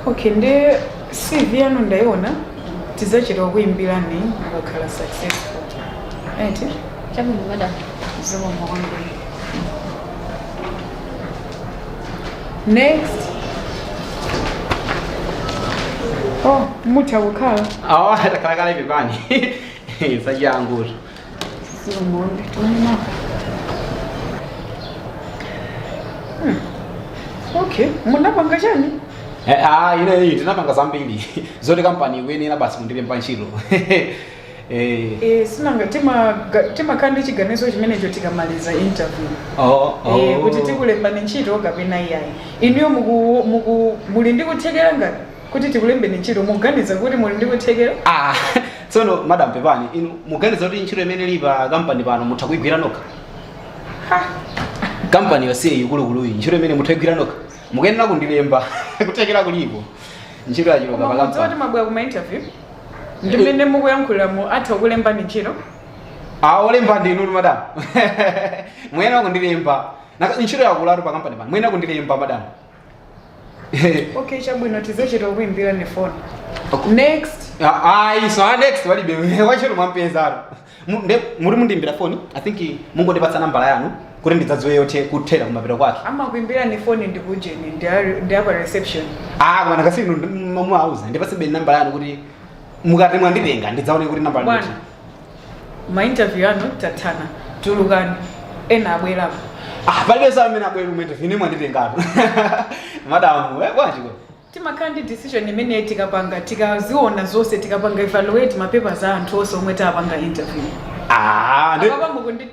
okay nde cv yanu ndaiona tidzachita kukuimbirani mukakhala successful eti chabwino madam zikomo kwambiri next oh mutha kukhala awa takhalakhala ivi pangani zachangutu okay munapanga chani Eh, ah, ine iyi tinapanga zambiri zoti kampani ikuyenera basi kundilemba ntchito Eh, Eh, si nanga timaga- timakhala ndi chiganizo chimenecho tikamaliza interview oh, oh. Eh, kuti tikulembani ntchito kapena iyayi inuyo muku- muku- muli ndi kuthekera ngati kuti tikulembeni ntchito muganiza kuti muli ndi kuthekera Ah, tsono madam pepani inu muganiza kuti ntchito imene ili pa kampani pano mutha kuigwira nokha kampani yonseyi yaikuluikuluyi ntchito imene mutha kuigwira nokha mukuyenera kundilemba kuthekera kulipo ntchito yachuluka pa Mudziwa kuti kampani mwabwera kuma interview ndi mmene mukuyankhuliramu atha kukulembani ntchito aolemba ndinu madam muyenera kundilemba Naka- ntchito yakulatu pakampani pano muyenera kundilemba madam okay chabwino tizachita kukuimbirani phone next ayi so a next walibe wachitatu mwampezano Mu- nde muti mundiimbira foni i think mungondipatsa nambala yanu kuti ndidzadziwe yothera kuthera kumapeto kwake amakuimbirani phone ndi kujeni ndi ari- ndi apa reception ah bwana kasi simumauza ndipatsenibe nambala yanu kuti mukati mwanditenga ndidzaone kuti nambala bwana ndikuti. ma interview anu tathana tulukani ena abwerapo ah palibe amene abwera kumene ine mwanditengatu madamu eh bwanji ko timakhala ndi decision imene tikapanga tikaziona zonse tikapanga evaluate ma papers a anthu onse omwe tapanga interview ah ndi- apapango kundi